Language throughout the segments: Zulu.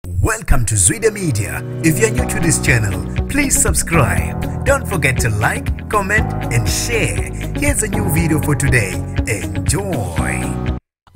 Welcome to Zwide Media. If you're new to this channel, please subscribe. Don't forget to like, comment, and share. Here's a new video for today. Enjoy.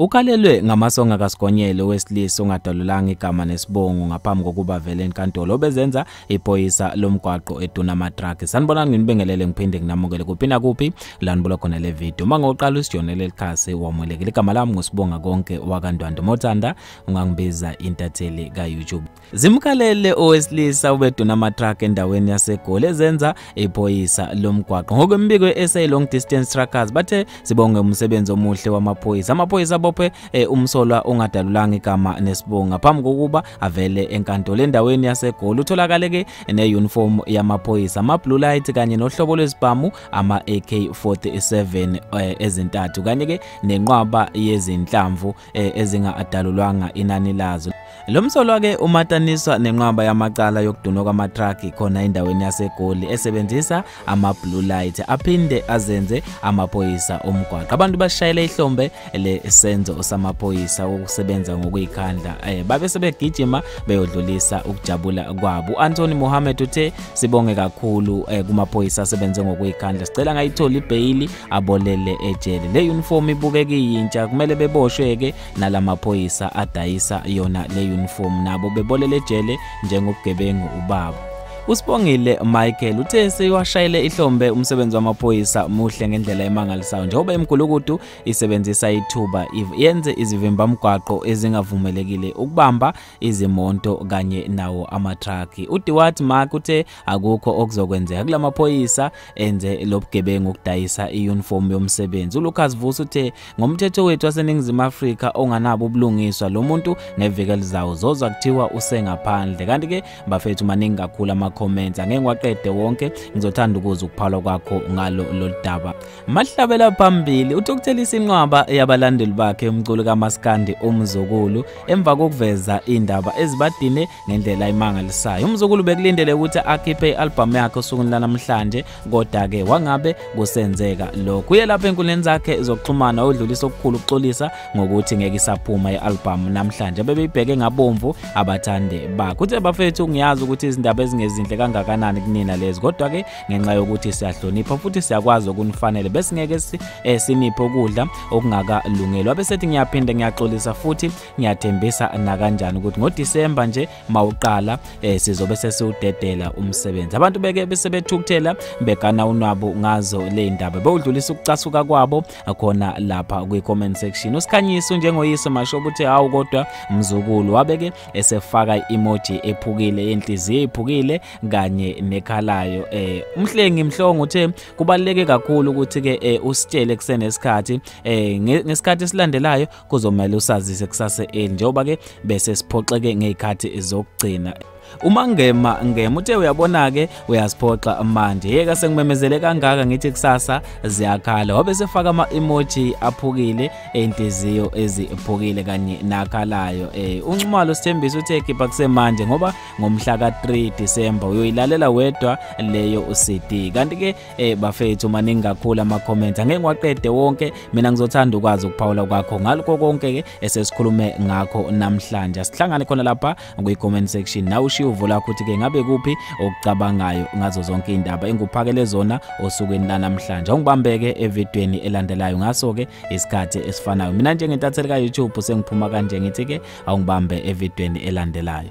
Ukalelwe ngamasonga kaSigonyelo wesilisa ongadalulanga igama nesibongo ngaphambi kokuba vele enkantolo obezenza iphoyisa lomgwaqo eduna amatraki. Sanibonani nginibingelele ngiphinde nginamukele kuphi nakuphi la nibulo khona le video. Uma ngoqala usijonele lelikhasi wamwelekile igama lami ngusibonga konke wakandwando Mothanda ungangibiza intatheli ka-youtube zimkhalele owesilisa ubeduna amatruck endaweni yasegoli ezenza iphoyisa lomgwaqo ngokwembiko ye-sa long distance truckers bathe sibonge umsebenzi omuhle wamaphoyisa amaphoyisa abophe eh, umsolwa ongadalulanga igama nesibongo ngaphambi kokuba avele enkantolo endaweni yasegoli utholakale-ke neyunifomu yamaphoyisa ama-blue light kanye nohlobo lwezibhamu ama-ak 47 eh, ezintathu kanye-ke nenqwaba yezinhlamvu eh, ezinga-adalulwanga inani lazo lo msolwa-ke umataniswa nenqwaba yamacala yokudunwa kwamatraki khona endaweni yasegoli esebenzisa ama-blue light aphinde azenze amaphoyisa omgwaqo abantu bashayele ihlombe lesenzo samaphoyisa wokusebenza ngokuyikhandla eh, babe sebegijima beyodlulisa ukujabula kwabo u-antony mohammed uthe sibonge kakhulu eh, kumaphoyisa asebenze ngokuyikhandla sicela ngayithola ibheyili abolele ejele le uniform ibukeka iyintsha kumele beboshwe-ke nala maphoyisa adayisa yona le uniform nabo bebolele ejele njengobugebengu ubaba usibongile michael uthe sewashayele ihlombe umsebenzi wamaphoyisa muhle ngendlela emangalisayo njengoba imgulukudu isebenzisa ithuba yenze izivimbamgwaqo ezingavumelekile ukubamba izimonto kanye nawo amatraki udiwat mark uthe akukho okuzokwenzeka kula maphoyisa enze lobugebengu ukudayisa iuniform yomsebenzi uLucas Vusi uthe ngomthetho wethu waseningizimu Afrika onganabo ubulungiswa lo muntu ngeviki elizayo zozwa kuthiwa usengaphandle kanti ke bafethu maningi kakhulu ama comments angeke ngiwaqede wonke ngizothanda ukuza ukuphalwa kwakho ngalo loludaba mahlabela phambili uthi ukuthelisa inqwaba yabalandeli bakhe umculo kaMaskandi umzukulu emva kokuveza indaba ezibadine ngendlela imangalisayo umzukulu bekulindele ukuthi akhiphe i-albhamu yakhe osukwini lanamhlanje kodwa-ke wangabe kusenzeka lokhu uye lapha enkundleni zakhe zokuxhumana odlulisa okukhulu ukuxolisa ngokuthi ngeke isaphuma i-albhamu namhlanje bebeyibheke ngabomvu abathandi bakhe uthe bafethu ngiyazi ukuthi izindaba ezingezinhle kangakanani kunina lezi kodwa-ke ngenxa yokuthi siyahlonipha futhi siyakwazi okunifanele besingeke eh, siniphe ukudla okungakalungeli wabe sethi ngiyaphinde ngiyaxolisa futhi ngiyathembisa nakanjani ukuthi ngoDisemba nje mawuqala eh, sizobe sesiwudedela umsebenzi abantu beke bese bethukuthela begana unwabo ngazo le ndaba bewudlulisa ukucasuka kwabo khona lapha kwi-comment section usikhanyiso njengoyise masho ukuthi hawu kodwa mzukulu wabeke esefaka i-emoji ephukile yenhliziyo iphukile kanye nekhalayo eh umhlengi mhlongo uthe kubaluleke kakhulu ukuthi ke eh, usitshele kusenesikhathi eh ngesikhathi esilandelayo kuzomele usazise kusase eli njengoba ke bese siphoxeke ngezikhathi zokugcina uma ngema ngema uthe uyabona ke uyasiphoxa manje yeka sengimemezele kangaka ngithi kusasa ziyakhala wabe sefaka ama emoji aphukile eintiziyo eziphukile kanye nakhalayo eh unxumalo sithembisa uthe ekhipha kusemanje ngoba ngomhla ka 3 December uyoyilalela wedwa leyo uCD kanti ke Eh bafethu maningi kakhulu ama comments angeke ngiwaqede wonke mina ngizothanda ukwazi ukuphawula kwakho ngaloko konke ke esesikhulume ngakho namhlanje sihlangane khona lapha kwi comment section nawe ushiye uvo lakho ukuthi ke ngabe kuphi okucabangayo ngazo zonke indaba enguphakele zona osukwini lanamhlanje ungibambeke evidweni elandelayo ngaso ke isikhathi esifanayo mina njengentatheli ka YouTube sengiphuma kanje ngithi ke awungibambe evidweni elandelayo